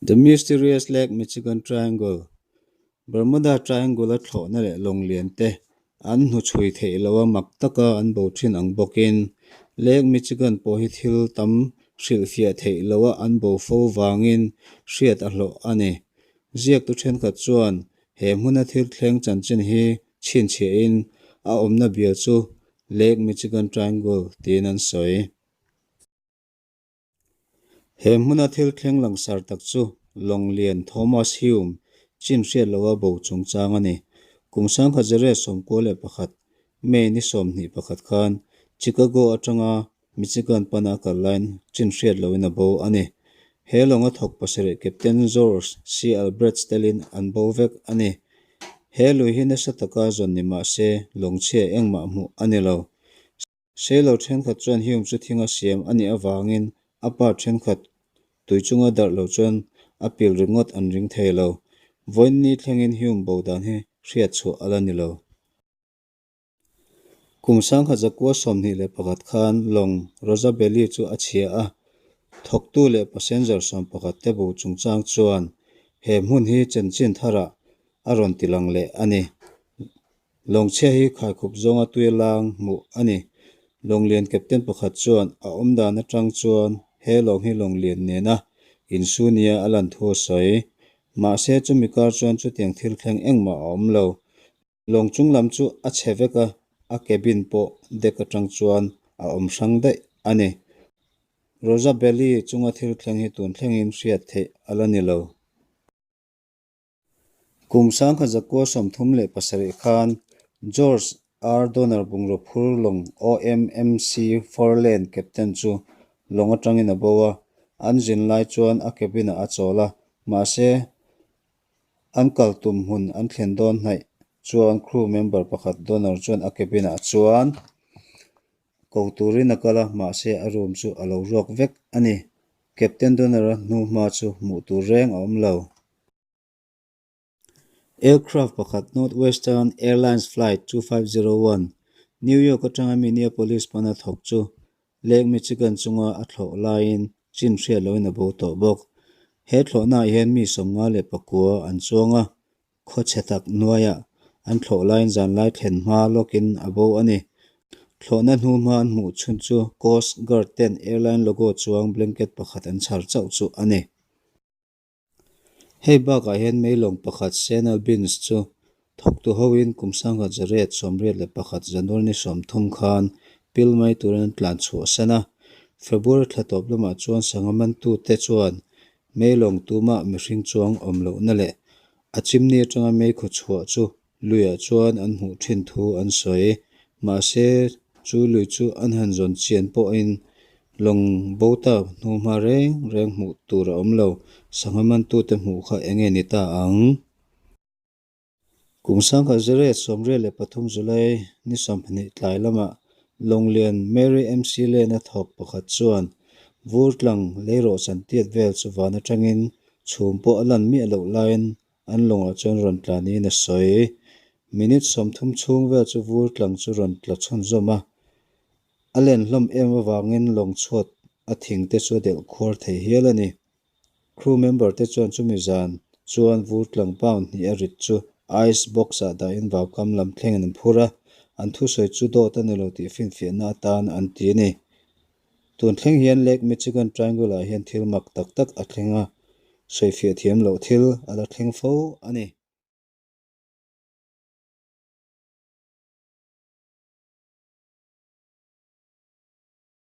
The Mysterious Lake Michigan Triangle Bermuda Triangle a thlawhna leh lawnglen te an hnu chhui theih loh a mak taka an bo thin ang bawkin Lake Michigan pawh hi thil tam hrilhfiah theih loh a an bo fo vangin hriat a hlawh a ni. Ziaktu thenkhat chuan he hmuna thil thleng chanchin hi chhinchhiahin a awmna bial chu Lake Michigan Triangle tiin an sawi. He hmuna thil thleng langsar tak chu Lawnglen Thomas Hume chin hriat loha bo chungchang a ni. Kum sangkhat zere sawmkua leh pakhat, May ni sawmhnih pakhat khan Chicago atanga Mi chikan pana kal laiin chin hriat lohin a bo a ni. He lawnga thawk pasarih Captain George C. Albert Stalin an bo vek a ni. He lui hi nasa taka zawn ni mah se, lawng chhia engmah hmuh a ni lo. Sei lo ṭhenkhat chuan Hume chu thinga siam a nih avangin a part ṭhenkhat tui chunga darh lo chuan a pil ringawt an ring thei lo. Vawiin ni thlengin Hume bo dan hi hriat chhuah a la ni lo. Kum sangha zakua sawmhnih leh pakhat khan lawng Rosabelli chu a chhia a, thawktu leh passenger sawm pakhat te bu chungchang chuan he hmun hi Chenchin Thara a rawn ti lang leh a ni. Lawng chhia hi khaikhup zawnga tuia lang hmuh a ni. Lawng lian captain pakhat chuan a awm dan atang chuan he lawng hi lawng lian nena insu nia a lanthu a sawi. Mahse chumi kar chuan chutiang thil thleng engmah a awm lo. Lawng chung lam chu a chhe vek a, a cabin pawh deck atang chuan a awm hrang daih a ni. Rosabelle-i chunga thil thleng hi tun thlengin hriat theih a la ni lo. Kum sangkhat zakua sawmthum leh pasarih khan George R. Donner bungraw phur lawng awm MC four lane captain chu lawng atangin a bo a, an zin lai chuan a cabin-ah a chawl a, mahse An kal tum hun an thlen dawn hnaih chuan crew member pakhat Donor chuan a cabin ah chuan ko turin a kal a, mahse a room chu a lo ruak vek a ni. Captain Donor a hnu hma chu hmuh tur reng a awm lo. Aircraft pakhat Northwestern Airlines Flight two five zero one New York atanga Minneapolis hmana thawk chu Lake Michigan chunga a thlawh laiin chin hriat loin a bo tawh bawk. He thlawhnaah hian mi sawmnga leh pakua an chuang a, khaw chhe tak hnuaiah an thlawh laiin zanlai thlen hma lawkin a bo a ni. Thlawhna hnu hma an hmuh chhun chu Coast Guard-ten airline logo chuang blanket pakhat an chhar chauh chu a ni. Hei bakah hian meilawng pakhat Sena Bins chu thawk tu hoin kum sangha zarep sawmriat leh pakhat Zanulni sawmthum khan pil mai turin an tlan chhuah san a. February thla tawp lamah chuan sangha mantute chuan meilawng tumah mihring chuang awm lohna leh a chimni atanga meikhaw chhuah chu Luia chuan an hmuh ṭhin thu an sawi. Mahse, chu Lui chu an han zawn chian pawhin lawng bo tak hnu hma reng reng hmuh tur a awm lo. Sangha mantute hmuh kha eng nge ni ta ang? Kum sangha zeret sawmrial leh pathum July ni sawmhnih tlai lamah Lawnglen Mary MC Lane-a thawk pakhat chuan Vurtlang lei rawh chantiat vel chu van aṭangin chhum pawh a lan miah loh laiin An lawngah chuan rawn tla niin a sawi. Minute sawmthum chhung vel chu Vurtlang chu rawn tla chhun zawm a. A len hlawm em avangin lawng chhuat a thing te chu a delh khuar thei hial a ni. Crew member te chuan chumi zan chuan Vurtlang pound hnih a rit chu ice box ah dahin vau kam lam thlengin an phur a. An thusawi chu dawt a ni lo tih finfiahna atan an ti a ni. Tun thleng hian Lake Michigan Triangle ah hian thil mak tak tak a thleng a, sawifiah thiam loh thil a la thleng fo a ni.